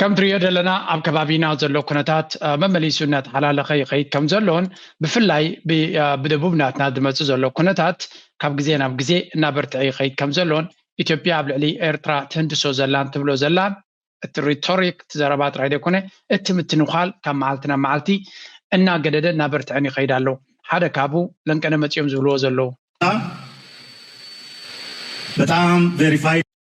ከም ትሪዮ ዘለና ኣብ ከባቢና ዘሎ ኩነታት መመሊሱ እናተሓላለኸ ይኸይድ ከም ዘሎን ብፍላይ ብደቡብ ናትና ዝመፅእ ዘሎ ኩነታት ካብ ግዜ ናብ ግዜ እናበርትዐ ይኸይድ ከም ዘሎን ኢትዮጵያ ኣብ ልዕሊ ኤርትራ ትህንድሶ ዘላን ትብሎ ዘላን እቲ ሪቶሪክ እቲ ዘረባ ጥራይ ዘይኮነ እቲ ምትንዃል ካብ መዓልቲ ናብ መዓልቲ እናገደደ እናበርትዐን ይኸይድ ኣሎ ሓደ ካብኡ ለንቀነ መፂኦም ዝብልዎ ዘለዉ በጣም ቬሪፋይ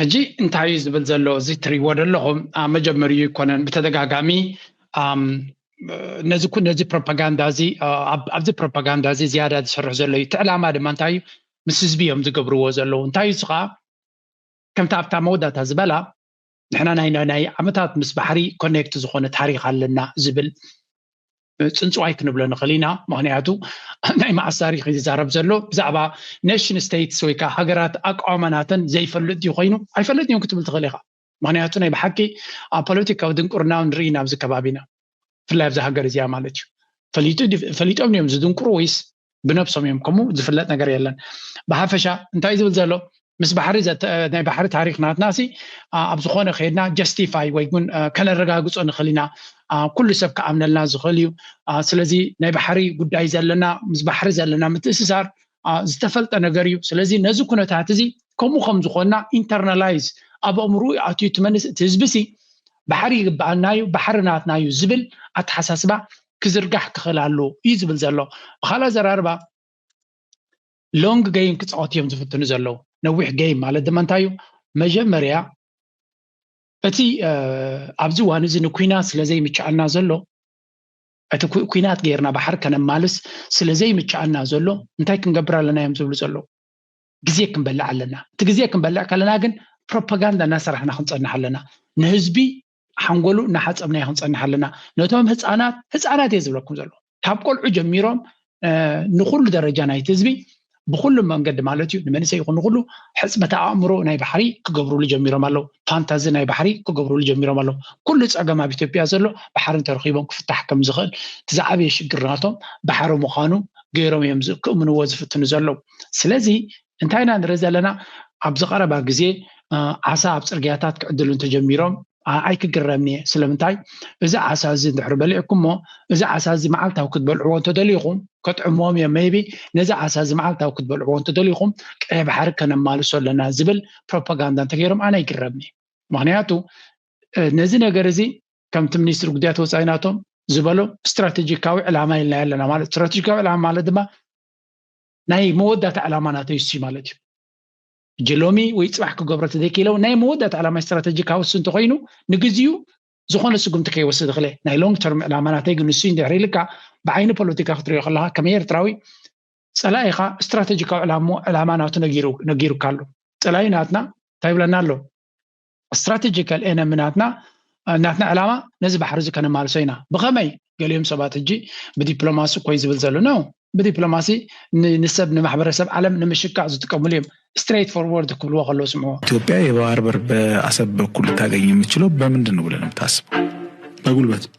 ሕጂ እንታይ እዩ ዝብል ዘሎ እዚ እትሪእዎ ዘለኹም ኣብ መጀመሪኡ ኣይኮነን ብተደጋጋሚ ነዚ ነዚ ፕሮፓጋንዳ እዚ ኣብዚ ፕሮፓጋንዳ እዚ ዝያዳ ዝስርሑ ዘሎ እዩ እቲ ዕላማ ድማ እንታይ እዩ ምስ ህዝቢ እዮም ዝገብርዎ ዘለዉ እንታይ እዩ ስኻ ከምቲ ኣብታ መወዳእታ ዝበላ ንሕና ናይ ናይ ዓመታት ምስ ባሕሪ ኮኔክት ዝኾነ ታሪክ ኣለና ዝብል ፅንፅዋይ ክንብሎ ንኽእል ኢና ምክንያቱ ናይ መዓስ ታሪክ እዩ ዝዛረብ ዘሎ ብዛዕባ ኔሽን ስቴትስ ወይ ከዓ ሃገራት ኣቋማ ናተን ዘይፈልጥ ድዩ ኮይኑ ኣይፈለጥ እዮም ክትብል ትኽእል ኢኻ ምክንያቱ ናይ ብሓቂ ኣብ ፖለቲካዊ ድንቁርና ንርኢ ኢና ኣብዚ ከባቢና ብፍላይ ኣብዛ ሃገር እዚኣ ማለት እዩ ፈሊጦም እዮም ዝድንቁሩ ወይስ ብነብሶም እዮም ከምኡ ዝፍለጥ ነገር የለን ብሓፈሻ እንታይ ዝብል ዘሎ ምስ ባሕሪ ናይ ባሕሪ ታሪክ ናትና ሲ ኣብ ዝኮነ ከድና ጀስቲፋይ ወይ ውን ከነረጋግፆ ንክእል ኢና ኩሉ ሰብ ክኣምነልና ዝክእል እዩ ስለዚ ናይ ባሕሪ ጉዳይ ዘለና ምስ ባሕሪ ዘለና ምትእስሳር ዝተፈልጠ ነገር እዩ ስለዚ ነዚ ኩነታት እዚ ከምኡ ከም ዝኾና ኢንተርናላይዝ ኣብ ኣእምሮ ኣትዩ እቲ መንስ እቲ ህዝቢ ሲ ባሕሪ ይግበኣና እዩ ባሕሪ ናትና እዩ ዝብል ኣተሓሳስባ ክዝርጋሕ ክኽእል ኣሎ እዩ ዝብል ዘሎ ብካልእ ዘራርባ ሎንግ ገይም ክፃወት እዮም ዝፍትኑ ዘለዉ ነዊሕ ገይም ማለት ድማ እንታይ እዩ መጀመርያ እቲ ኣብዚ እዋን እዚ ንኩናት ስለ ዘይምችኣና ዘሎ እቲ ኩናት ገይርና ባሕሪ ከነማልስ ስለ ዘይምቸኣና ዘሎ እንታይ ክንገብር ኣለና እዮም ዝብሉ ዘለዉ። ግዜ ክንበልዕ ኣለና። እቲ ግዜ ክንበልዕ ከለና ግን ፕሮፓጋንዳ እናሰራሕና ክንጸንሕ ኣለና። ንህዝቢ ሓንጎሉ እናሓጸብናዮ ክንጸንሕ ኣለና። ነቶም ህጻናት፣ ህጻናት እየ ዝብለኩም ዘለኹ፣ ካብ ቆልዑ ጀሚሮም ንኩሉ ደረጃ ናይቲ ህዝቢ ብኩሉ መንገዲ ማለት እዩ ንመንእሰይ ይኹን ንኩሉ ሕፅበተ ኣእምሮ ናይ ባሕሪ ክገብርሉ ጀሚሮም ኣለው ፋንታዚ ናይ ባሕሪ ክገብርሉ ጀሚሮም ኣለው ኩሉ ፀገም ኣብ ኢትዮጵያ ዘሎ ባሕሪ እንተረኪቦም ክፍታሕ ከም ዝኽእል እቲ ዝዓበየ ሽግር ናቶም ባሕሪ ምዃኑ ገይሮም እዮም ክእምንዎ ዝፍትኑ ዘለው ስለዚ እንታይ ኢና ንርኢ ዘለና ኣብዚ ቀረባ ግዜ ዓሳ ኣብ ፅርግያታት ክዕድሉ እንተጀሚሮም ኣይክግረምን'የ፣ ስለምንታይ እዚ ዓሳ'ዚ እንድሕሪ በሊዕኩሞ፣ እዚ ዓሳ'ዚ መዓልታዊ ክትበልዕዎ እንተደሊኹም፣ ከጥዕሞም'የ፣ መይቢ ነዚ ዓሳ'ዚ መዓልታዊ ክትበልዕዎ እንተደሊኹም፣ ቀይሕ ባሕሪ ከነማልሶ ኣለና ዝብል ፕሮፓጋንዳ እንተገይሮም ኣነ ኣይግረምን'የ። ምኽንያቱ ነዚ ነገር'ዚ ከምቲ ሚኒስትሪ ጉዳያት ወጻኢ ናቶም ዝበሎ ስትራተጂካዊ ዕላማ ኢልናዮ ኣለና ማለት፣ ስትራተጂካዊ ዕላማ ማለት ድማ ናይ መወዳእታ ዕላማ ናተይ'ሱ'ዩ ማለት'ዩ። ሕጂ ሎሚ ወይ ፅባሕ ክገብሮ ተዘይክኢለው ናይ መወዳእታ ዕላማ ስትራተጂካዊ እሱ እንተኮይኑ ንግዚኡ ዝኾነ ስጉምቲ ከይወስድ እኽለ ናይ ሎንግ ተርም ዕላማ ናተይ ግን ንሱ እንድሕር ኢልካ ብዓይኒ ፖለቲካ ክትሪኦ ከለካ ከም ኤርትራዊ ፀላኢኻ ስትራተጂካዊ ዕላማ ዕላማ ናቱ ነጊሩ ነጊሩካ ኣሎ ፀላኢ ናትና እንታይ ይብለና ኣሎ ስትራተጂካል ኤነሚ ናትና ናትና ዕላማ ነዚ ባሕሪ እዚ ከነማልሶ ኢና ብኸመይ ገሊኦም ሰባት ሕጂ ብዲፕሎማሲ እኮዩ ዝብል ዘሎ ነው ብዲፕሎማሲ ንሰብ ንማሕበረሰብ ዓለም ንምሽካዕ ዝጥቀምሉ እዮም ስትሬት ፎርወርድ ክብልዎ ከለዉ ስምዑ ኢትዮጵያ የባህር በር በአሰብ በኩል ልታገኝ የምትችለው በምንድን ነው ብለህ ነው የምታስበው? በጉልበት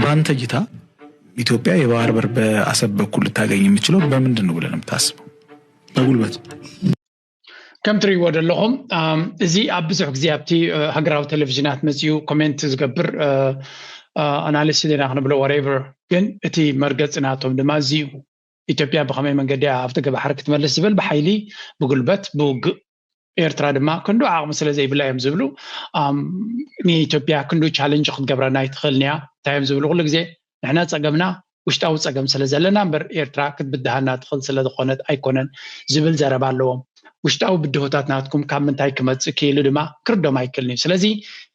በአንተ እይታ ኢትዮጵያ የባህር በር በአሰብ በኩል ልታገኝ የምችለው በምንድን ነው ብለን የምታስበው? በጉልበት ከም ትሪእዎ ዘለኹም እዚ ኣብ ብዙሕ ግዜ ኣብቲ ሃገራዊ ቴሌቭዥናት መፅኡ ኮሜንት ዝገብር ኣናሊስ ዜና ክንብሎ ወሬቨር ግን እቲ መርገፂ ናቶም ድማ እዚ ኢትዮጵያ ብከመይ መንገዲ ኣብቲ ገባሕሪ ክትመልስ ዝብል ብሓይሊ ብጉልበት ብውግእ ኤርትራ ድማ ክንዱ ዓቕሚ ስለ ዘይብላ እዮም ዝብሉ ንኢትዮጵያ ክንዱ ቻለንጅ ክትገብረና ኣይትኽእልን እያ እንታይ እዮም ዝብሉ ኩሉ ግዜ ንሕና ፀገምና ውሽጣዊ ፀገም ስለ ዘለና እምበር ኤርትራ ክትብድሃና ትኽእል ስለ ዝኾነት ኣይኮነን ዝብል ዘረባ ኣለዎም ውሽጣዊ ብድሆታት ናትኩም ካብ ምንታይ ክመፅእ ክኢሉ ድማ ክርዶም ኣይክእልን እዩ ስለዚ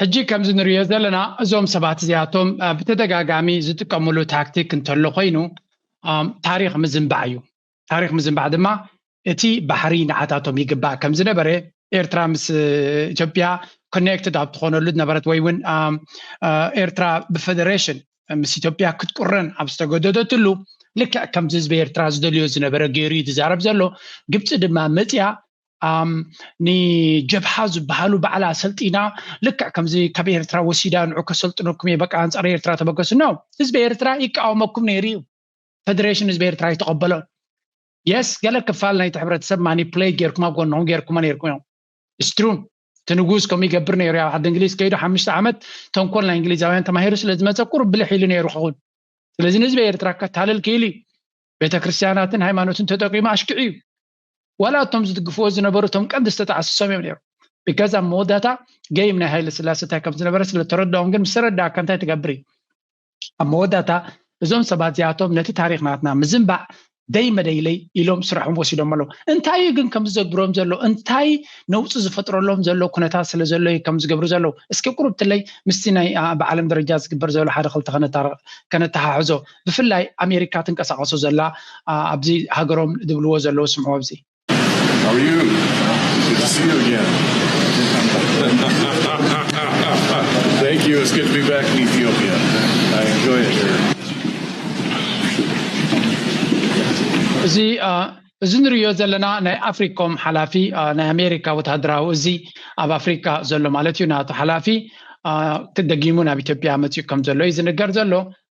ሕጂ ከምዚ ንርእዮ ዘለና እዞም ሰባት እዚኣቶም ብተደጋጋሚ ዝጥቀምሉ ታክቲክ እንተሎ ኮይኑ ታሪኽ ምዝንባዕ እዩ ታሪኽ ምዝንባዕ ድማ እቲ ባሕሪ ንዓታቶም ይግባእ ከም ዝነበረ ኤርትራ ምስ ኢትዮጵያ ኮኔክትድ ኣብ ትኾነሉ ዝነበረት ወይ እውን ኤርትራ ብፌደሬሽን ምስ ኢትዮጵያ ክትቁረን ኣብ ዝተገደደትሉ ልክዕ ከምዚ ህዝቢ ኤርትራ ዝደልዮ ዝነበረ ገይሩ እዩ ዝዛረብ ዘሎ ግብፂ ድማ መፅያ ንጀብሃ ዝበሃሉ ባዕላ ሰልጢና ልክዕ ከምዚ ካብ ኤርትራ ወሲዳ ንዑ ከሰልጥነኩም እየ በቃ ኣንፃር ኤርትራ ተበገሱ ኖ ህዝቢ ኤርትራ ይቃወመኩም ነይሩ እዩ ፈደሬሽን ህዝቢ ኤርትራ ይተቐበሎ የስ ገለ ክፋል ናይቲ ሕብረተሰብ ማኒፕሌት ጌርኩም ኣብ ጎንኹም ጌርኩሞ ነይርኩም እዮም ስትሩ እቲ ንጉስ ከምኡ ይገብር ነይሩ ኣብ ዓዲ እንግሊዝ ከይዱ ሓሙሽተ ዓመት ተንኮል ናይ እንግሊዛውያን ተማሂሩ ስለ ዝመፀ ቁሩብ ብልሕ ኢሉ ነይሩ ክኹን ስለዚ ንህዝቢ ኤርትራ ከታልል ክኢሉ እዩ ቤተክርስትያናትን ሃይማኖትን ተጠቂሙ ኣሽኪዑ እዩ ዋላ እቶም ዝድግፍዎ ዝነበሩ እቶም ቀንዲ ዝተጣዕሱ ሰብ እዮም ነይሮም ብከዛ ኣብ መወዳእታ ገይም ናይ ሃይለ ስላሴ እንታይ ከም ዝነበረ ስለ ተረድኦም ግን ምስ ተረዳእካ እንታይ ትገብር እዩ ኣብ መወዳእታ እዞም ሰባት እዚኣቶም ነቲ ታሪክ ናትና ምዝንባዕ ደይ መደይለይ ኢሎም ስራሖም ወሲዶም ኣለዉ እንታይ እዩ ግን ከም ዝዘግብሮም ዘሎ እንታይ ነውፂ ዝፈጥረሎም ዘሎ ኩነታት ስለ ዘሎ እዩ ከም ዝገብሩ ዘለዉ እስኪ ቁርብትለይ ምስቲ ናይ ብዓለም ደረጃ ዝግበር ዘሎ ሓደ ክልተ ከነተሓሕዞ ብፍላይ ኣሜሪካ ትንቀሳቀሶ ዘላ ኣብዚ ሃገሮም ዝብልዎ ዘለዉ ስምዑ ኣብዚ። How are you? Good to see you again. Thank you. It's good to be back in Ethiopia. I enjoy it here. እዚ እዚ ንሪዮ ዘለና ናይ ኣፍሪኮም ሓላፊ ናይ ኣሜሪካ ወተሃደራዊ እዚ ኣብ ኣፍሪካ ዘሎ ማለት እዩ ናቱ ሓላፊ ደጊሙ ናብ ኢትዮጵያ መፅኡ ከም ዘሎ እዩ ዝንገር ዘሎ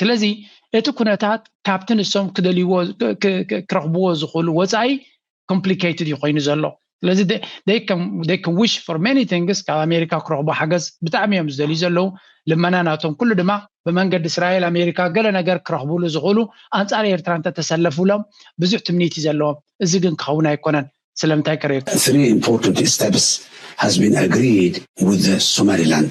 ስለዚ እቲ ኩነታት ካብቲ ንሶም ክደልይዎ ክረኽብዎ ዝኽእሉ ወፃኢ ኮምፕሊኬትድ እዩ ኮይኑ ዘሎ ስለዚ ከም ዊሽ ፎር ማኒ ቲንግስ ካብ ኣሜሪካ ክረኽቡ ሓገዝ ብጣዕሚ እዮም ዝደልዩ ዘለዉ ልመና ናቶም ኩሉ ድማ ብመንገዲ እስራኤል ኣሜሪካ ገለ ነገር ክረኽብሉ ዝኽእሉ ኣንፃር ኤርትራ እንተተሰለፉሎም ብዙሕ ትምኒት እዩ ዘለዎም እዚ ግን ክኸውን ኣይኮነን ስለምንታይ ቅሬታ Three important steps has been agreed with the Somaliland.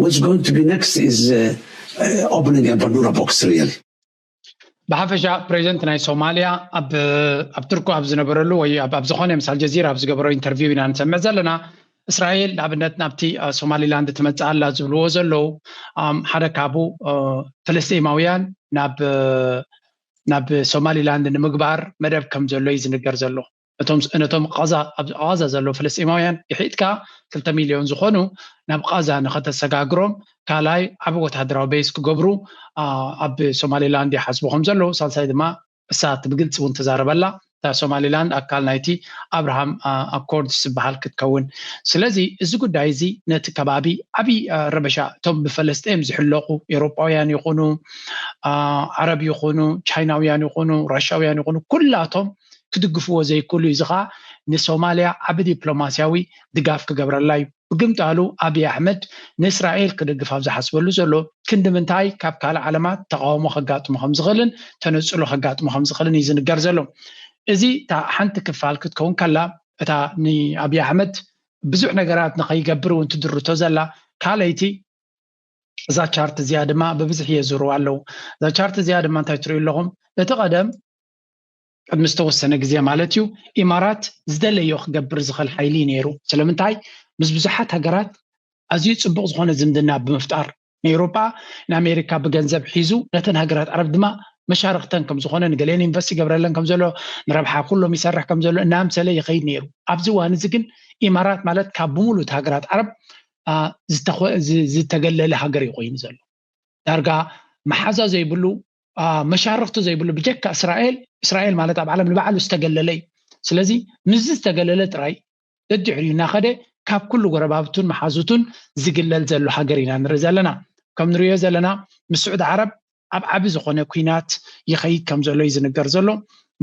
What's going to be next is uh, uh, opening a Bandura box, really. ብሓፈሻ ፕሬዚደንት ናይ ሶማልያ ኣብ ኣብ ትርኩ ኣብ ዝነበረሉ ወይ ኣብ ኣብ ዝኾነ ምስ ኣልጀዚራ ኣብ ዝገበሮ ኢንተርቪው ኢና ንሰምዕ ዘለና እስራኤል ንኣብነት ናብቲ አ፣ ሶማሊላንድ ትመፅእ ኣላ ዝብልዎ ዘለዉ ኣም፣ ሓደ ካብኡ አ፣ ፍልስጤማውያን ናብ አ፣ ናብ ሶማሊላንድ ንምግባር መደብ ከም ዘሎ እዩ ዝንገር ዘሎ ነቶም ነቶም ቓዛ ኣብ ቓዛ ዘለዉ ፍልስጤማውያን ግሒጥካ ክልተ ሚልዮን ዝኾኑ ናብ ቓዛ ንኸተሰጋግሮም ካልኣይ ዓቢ ወተሃደራዊ ቤዝ ክገብሩ ኣብ ሶማሊላንድ ይሓስቡ ከም ዘለዉ ሳልሳይ ድማ እሳ እቲ ብግልጺ እውን ተዛረበላ እታ ሶማሊላንድ ኣካል ናይቲ ኣብርሃም ኣኮርድስ ዝበሃል ክትከውን ስለዚ እዚ ጉዳይ እዚ ነቲ ከባቢ ዓቢ ረበሻ እቶም ብፈለስጤም ዝሕለቑ ኤውሮጳውያን ይኹኑ ዓረብ ይኹኑ ቻይናውያን ይኹኑ ራሻውያን ይኹኑ ኩላቶም ክድግፍዎ ዘይክእሉ እዩ። እዚ ከኣ ንሶማልያ ዓቢ ዲፕሎማስያዊ ድጋፍ ክገብረላ እዩ። ብግምጣሉ ኣቢይ ኣሕመድ ንእስራኤል ክድግፍ ኣብ ዝሓስበሉ ዘሎ ክንዲ ምንታይ ካብ ካልእ ዓለማት ተቓውሞ ከጋጥሞ ከም ዝኽእልን ተነጽሎ ከጋጥሞ ከም ዝኽእልን እዩ ዝንገር ዘሎ። እዚ እታ ሓንቲ ክፋል ክትከውን ከላ እታ ንኣቢይ ኣሕመድ ብዙሕ ነገራት ንኸይገብር እውን ትድርቶ ዘላ ካልኣይቲ እዛ ቻርት እዚኣ ድማ ብብዝሒ የዙርዋ ኣለዉ። እዛ ቻርት እዚኣ ድማ እንታይ ትርእዩ ኣለኹም? እቲ ቀደም ቅድሚ ዝተወሰነ ግዜ ማለት እዩ ኢማራት ዝደለዮ ክገብር ዝኽእል ሓይሊ እዩ ነይሩ ስለምንታይ ምስ ብዙሓት ሃገራት ኣዝዩ ፅቡቕ ዝኾነ ዝምድና ብምፍጣር ንኤውሮጳ ንኣሜሪካ ብገንዘብ ሒዙ ነተን ሃገራት ዓረብ ድማ መሻርኽተን ከም ዝኾነ ንገሌን ኢንቨስት ይገብረለን ከም ዘሎ ንረብሓ ኩሎም ይሰርሕ ከም ዘሎ እናምሰለ ይኸይድ ነይሩ ኣብዚ እዋን እዚ ግን ኢማራት ማለት ካብ ብምሉእ ሃገራት ዓረብ ዝተገለለ ሃገር እዩ ኮይኑ ዘሎ ዳርጋ መሓዛ ዘይብሉ መሻርኽቲ ዘይብሉ ብጀካ እስራኤል እስራኤል ማለት ኣብ ዓለም ንባዕሉ ዝተገለለ እዩ ስለዚ ምስዚ ዝተገለለ ጥራይ ደድሕሪኡ እናኸደ ካብ ኩሉ ጎረባብቱን መሓዙቱን ዝግለል ዘሎ ሃገር ኢና ንርኢ ዘለና ከም ንሪኦ ዘለና ምስ ስዑድ ዓረብ ኣብ ዓቢ ዝኾነ ኩናት ይኸይድ ከም ዘሎ እዩ ዝንገር ዘሎ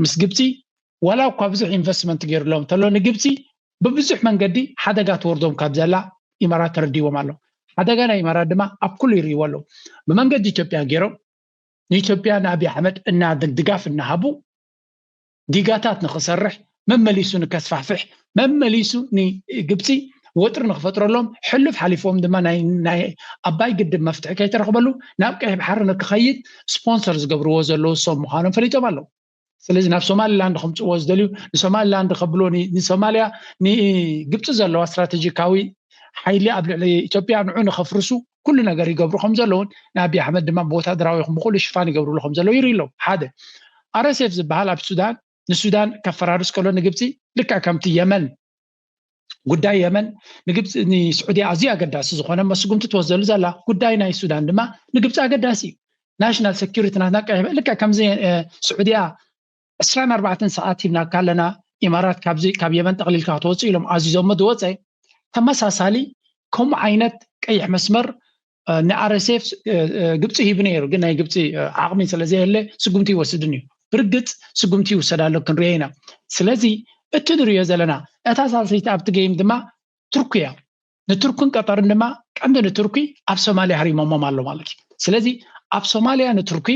ምስ ግብፂ ዋላ እኳ ብዙሕ ኢንቨስትመንት ገይሩሎም እንተሎ ንግብፂ ብብዙሕ መንገዲ ሓደጋ ትወርዶም ካብ ዘላ ኢማራት ተረዲዎም ኣሎ ሓደጋ ናይ ኢማራት ድማ ኣብ ኩሉ ይርእይዎ ኣለዉ ብመንገዲ ኢትዮጵያ ጌሮም ንኢትዮጵያ ንኣብይ ኣሕመድ እና ድጋፍ እናሃቡ ዲጋታት ንኽሰርሕ መመሊሱ ንከስፋሕፍሕ መመሊሱ ንግብፂ ወጥሪ ንክፈጥረሎም ሕሉፍ ሓሊፎም ድማ ናይ ኣባይ ግድብ መፍትሒ ከይተረኽበሉ ናብ ቀይሕ ባሕሪ ንክኸይድ ስፖንሰር ዝገብርዎ ዘለዉ ሰብ ምዃኖም ፈሊጦም ኣለዉ ስለዚ ናብ ሶማሊላንድ ከምፅዎ ዝደልዩ ንሶማሊላንድ ከብሎ ንሶማልያ ንግብፂ ዘለዋ ስትራቴጂካዊ ሓይሊ ኣብ ልዕሊ ኢትዮጵያ ንዑ ንከፍርሱ ኩሉ ነገር ይገብሩ ከም ዘለውን ንኣብዪ ኣሕመድ ድማ ብወታደራዊ ይኹን ብኩሉ ሽፋን ይገብርሉ ከም ዘለዉ ይርኢ ኣለዉ ሓደ ኣረሴፍ ዝበሃል ኣብ ሱዳን ንሱዳን ከፈራርስ ከሎ ንግብፂ ልክዕ ከምቲ የመን ጉዳይ የመን ንግብፂ ንስዑዲ ኣዝዩ ኣገዳሲ ዝኾነ መስጉምቲ ትወስደሉ ዘላ ጉዳይ ናይ ሱዳን ድማ ንግብፂ ኣገዳሲ እዩ ናሽናል ሴኪሪቲ ናትና ቀይሕ ልክዕ ከምዚ ስዑዲያ 24 ሰዓት ሂብናካ ኣለና ኢማራት ካብዚ ካብ የመን ጠቕሊልካ ክትወፅእ ኢሎም ኣዚዞሞ ዝወፀ ተመሳሳሊ ከምኡ ዓይነት ቀይሕ መስመር ንኣረሴፍ ግብፂ ሂቡ ነይሩ ግን ናይ ግብፂ ዓቕሚ ስለዘየለ ስጉምቲ ይወስድን እዩ ብርግፅ ስጉምቲ ይውሰድ ኣሎ ክንሪኦ ኢና ስለዚ እቲ ንሪኦ ዘለና እታ ሳልሰይቲ ኣብቲ ገይም ድማ ቱርኪ እያ ንቱርክን ቀጠርን ድማ ቀንዲ ንቱርኪ ኣብ ሶማሊያ ሃሪሞሞም ኣሎ ማለት እዩ ስለዚ ኣብ ሶማሊያ ንቱርኪ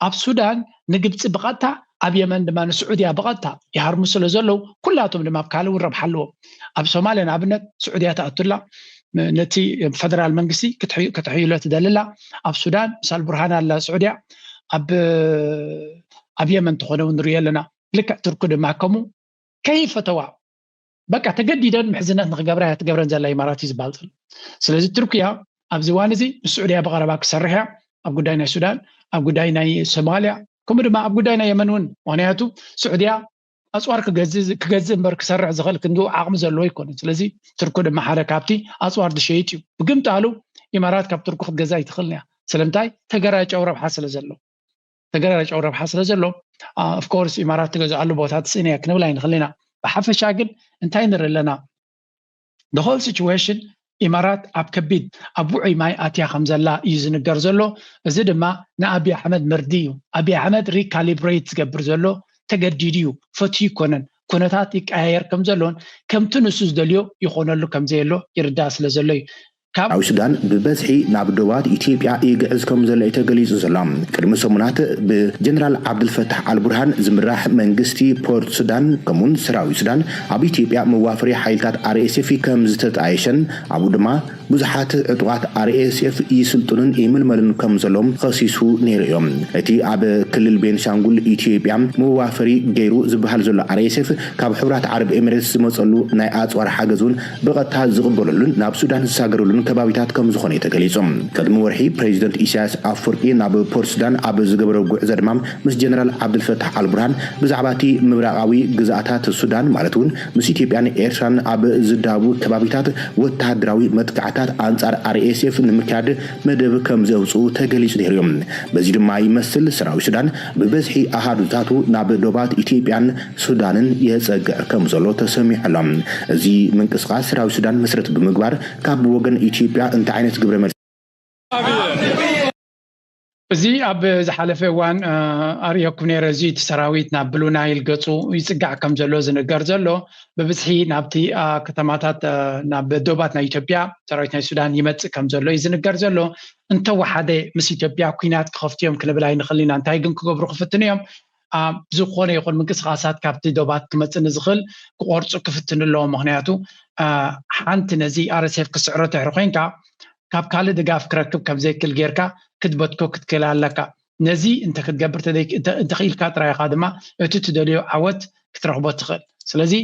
ኣብ ሱዳን ንግብፂ ብቐጥታ ኣብ የመን ድማ ንስዑድያ ብቐጥታ ይሃርሙ ስለ ዘለዉ ኩላቶም ድማ ኣብ ካልእ እውን ረብሓ ኣለዎም ኣብ ሶማልያ ንኣብነት ስዑድያ ትኣቱላ ነቲ ፈደራል መንግስቲ ከተሕይሎ ትደልላ ኣብ ሱዳን ምስ ኣልቡርሃን ኣላ ስዑድያ ኣብ የመን ተኾነ እውን ንሪኦ ኣለና ልክዕ ትርኩ ድማ ከምኡ ከይፈተዋ በቃ ተገዲደን ምሕዝነት ንክገብራ እያ ትገብረን ዘላ ኢማራት እዩ ዝበሃል ዘሎ ስለዚ ቱርክያ ኣብዚ እዋን እዚ ምስ ስዑድያ ብቀረባ ክሰርሕ እያ ኣብ ጉዳይ ናይ ሱዳን ኣብ ጉዳይ ናይ ሶማልያ ከምኡ ድማ ኣብ ጉዳይ ናይ የመን እውን ምክንያቱ ስዑድያ ኣፅዋር ክገዝእ እምበር ክሰርሕ ዝኽእል ክንዲ ዓቕሚ ዘለዎ ይኮነ ስለዚ ትርኩ ድማ ሓደ ካብቲ ኣፅዋር ዝሸይጥ እዩ ብግምጣሉ ኢማራት ካብ ትርኩ ክትገዛ ይትኽእል እያ ስለምንታይ ተገራጨው ረብሓ ስለ ዘለዎ ተገራራጫዊ ረብሓ ስለ ዘሎ ኣፍኮርስ ኢማራት ትገዝኣሉ ቦታ ትስእን እያ ክንብል ኣይንኽእል ኢና ብሓፈሻ ግን እንታይ ንርኢ ኣለና ሆል ሲዌሽን ኢማራት ኣብ ከቢድ ኣብ ውዑይ ማይ ኣትያ ከም ዘላ እዩ ዝንገር ዘሎ እዚ ድማ ንኣብዪ ኣሕመድ መርዲ እዩ ኣብዪ ኣሕመድ ሪካሊብሬት ዝገብር ዘሎ ተገዲዱ እዩ ፈትዩ ይኮነን ኩነታት ይቀያየር ከም ዘሎን ከምቲ ንሱ ዝደልዮ ይኾነሉ ከም ዘየሎ ይርዳእ ስለ ዘሎ እዩ ካብ። ሓው ሱዳን ብበዝሒ ናብ ዶባት ኢትዮጵያ ይግዕዝ ከም ዘሎ እዩ ተገሊጹ ዘሎ። ቅድሚ ሰሙናት ብ ጀነራል ዓብዱልፈታሕ ኣልቡርሃን ዝምራሕ መንግስቲ ፖርት ሱዳን ከምኡ'ውን ሰራዊት ሱዳን ኣብ ኢትዮጵያ መዋፈሪ ሓይልታት RSF ከም ዝተጣየሸን ኣብኡ ድማ ብዙሓት ዕጡቓት RSF ይስልጥኑን ይምልመሉን ከም ዘለዉን ኸሲሱ ነይሩ እዩ። እቲ ኣብ ክልል ቤንሻንጉል ኢትዮጵያ መዋፈሪ ገይሩ ዝብሃል ዘሎ RSF ካብ ሕቡራት ዓረብ ኤሚሬትስ ዝመጸሉ ናይ ኣጽዋር ሓገዝ እውን ብቐጥታ ዝቕበሉሉን ናብ ሱዳን ዝሳገሩሉን ከባቢታት ከምዝኾነ'ዩ ተገሊፁ። ቅድሚ ወርሒ ፕረዚደንት ኢሳያስ ኣፍወርቂ ናብ ፖርትሱዳን ኣብ ዝገበሮ ጉዕዞ ድማ ምስ ጀነራል ዓብዱልፈታሕ ኣልቡርሃን ብዛዕባ'ቲ ምብራቓዊ ግዝኣታት ሱዳን ማለት'ውን ምስ ኢትዮጵያን ኤርትራን ኣብ ዝዳወቡ ከባቢታት ወተሃደራዊ መጥቃዕትታት ኣንፃር RSF ንምክያድ መደብ ከምዘውፅኡ ተገሊፁ ነይሩ'ዩ። በዚ ድማ ይመስል ሰራዊት ሱዳን ብበዝሒ ኣሃዱታቱ ናብ ዶባት ኢትዮጵያን ሱዳንን የጸግዕ ከምዘሎ ተሰሚዑ ኣሎ። እዚ ምንቅስቓስ ሰራዊት ሱዳን መሰረት ብምግባር ካብ ወገን ኢትዮጵያ እንታይ ዓይነት ግብረ መልሲ ክረክብ ይኽእል? እዚ ኣብ ዝሓለፈ እዋን ኣርእየኩም ነይረ፣ እዚ እቲ ሰራዊት ናብ ብሉ ናይል ገጹ ይጽጋዕ ከምዘሎ ዝንገር ዘሎ ብብዝሒ ናብቲ ከተማታት ናብ ዶባት ናይ ኢትዮጵያ ሰራዊት ናይ ሱዳን ይመጽእ ከምዘሎ እዩ ዝንገር ዘሎ እንተወሓደ ምስ ኢትዮጵያ ኩናት ክኸፍቱ እዮም ክንብል ኣይንኽእልን ኢና እንታይ ግን ክገብሩ ክፍትኑ እዮም ኣብ ዝኾነ ይኹን ምንቅስቃሳት ካብቲ ዶባት ክመጽእ ንዝኽእል ክቆርጹ ክፍትኑ ኣለዎም ምኽንያቱ ሓንቲ ነዚ RSF ክስዕሮ ትሕሪ ኮንካ ካብ ካልእ ድጋፍ ክረክብ ከም ዘይክል ጌርካ ክትበትኮ ክትክእል ኣለካ ነዚ እንተ ክትገብር እንተ ኺኢልካ ጥራይ ኢኻ ድማ እቲ ትደልዮ ዓወት ክትረኽቦ ትኽእል ስለዚ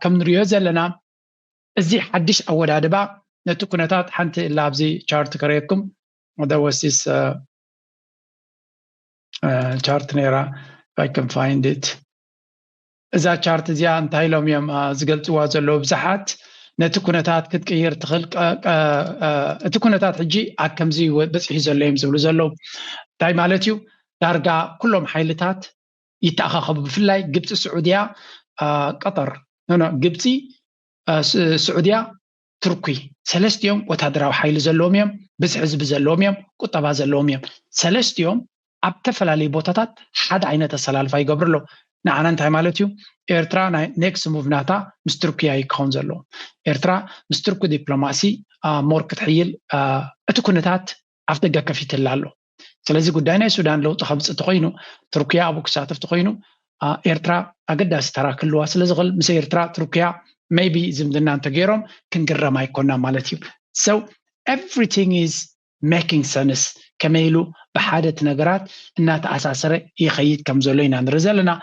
ከም ንሪኦ ዘለና እዚ ሓድሽ ኣወዳድባ ነቲ ኩነታት ሓንቲ እላ ኣብዚ ቻርት ከረየኩም there was this uh, ቻርት ነይራ ይከን ፋይንድት እዛ ቻርት እዚኣ እንታይ ኢሎም እዮም ዝገልፅዋ ዘለዉ ብዙሓት ነቲ ኩነታት ክትቅይር ትኽእል እቲ ኩነታት ሕጂ ኣብ ከምዚ በፂሑ ዘሎ እዮም ዝብሉ ዘለዉ እንታይ ማለት እዩ ዳርጋ ኩሎም ሓይልታት ይተኣኻኸቡ ብፍላይ ግብፂ ስዑድያ ቀጠር ግብፂ ስዑድያ ትርኲ ሰለስቲኦም ወታደራዊ ሓይሊ ዘለዎም እዮም፣ ብዝሒ ህዝቢ ዘለዎም እዮም፣ ቁጠባ ዘለዎም እዮም። ሰለስቲኦም ኣብ እተፈላለዩ ቦታታት ሓደ ዓይነት ኣሰላልፋ ይገብሩ ኣለዉ። ንዓና እንታይ ማለት እዩ? ኤርትራ ናይ ኔክስ ሙቭ ናታ ምስ ትርኲ ኣዩ ክኸውን ዘለዎ። ኤርትራ ምስ ትርኲ ዲፕሎማሲ ሞር ክትሕይል እቲ ኩነታት ኣፍደገ ከፊትላ ኣሎ። ስለዚ ጉዳይ ናይ ሱዳን ለውጢ ከምፅ እንተኮይኑ ቱርኪያ ኣብኡ ክሳተፍ እንተኮይኑ ኤርትራ ኣገዳሲ ተራ ክህልዋ ስለዝኽእል ምስ ኤርትራ ቱርኪያ ሜይቢ ዝምድና እንተገይሮም ክንግረም ኣይኮና ማለት እዩ so everything is making sense ከመይ ኢሉ ብሓደ እቲ ነገራት እናተኣሳሰረ ይኸይድ ከም ዘሎ ኢና ንርኢ ዘለና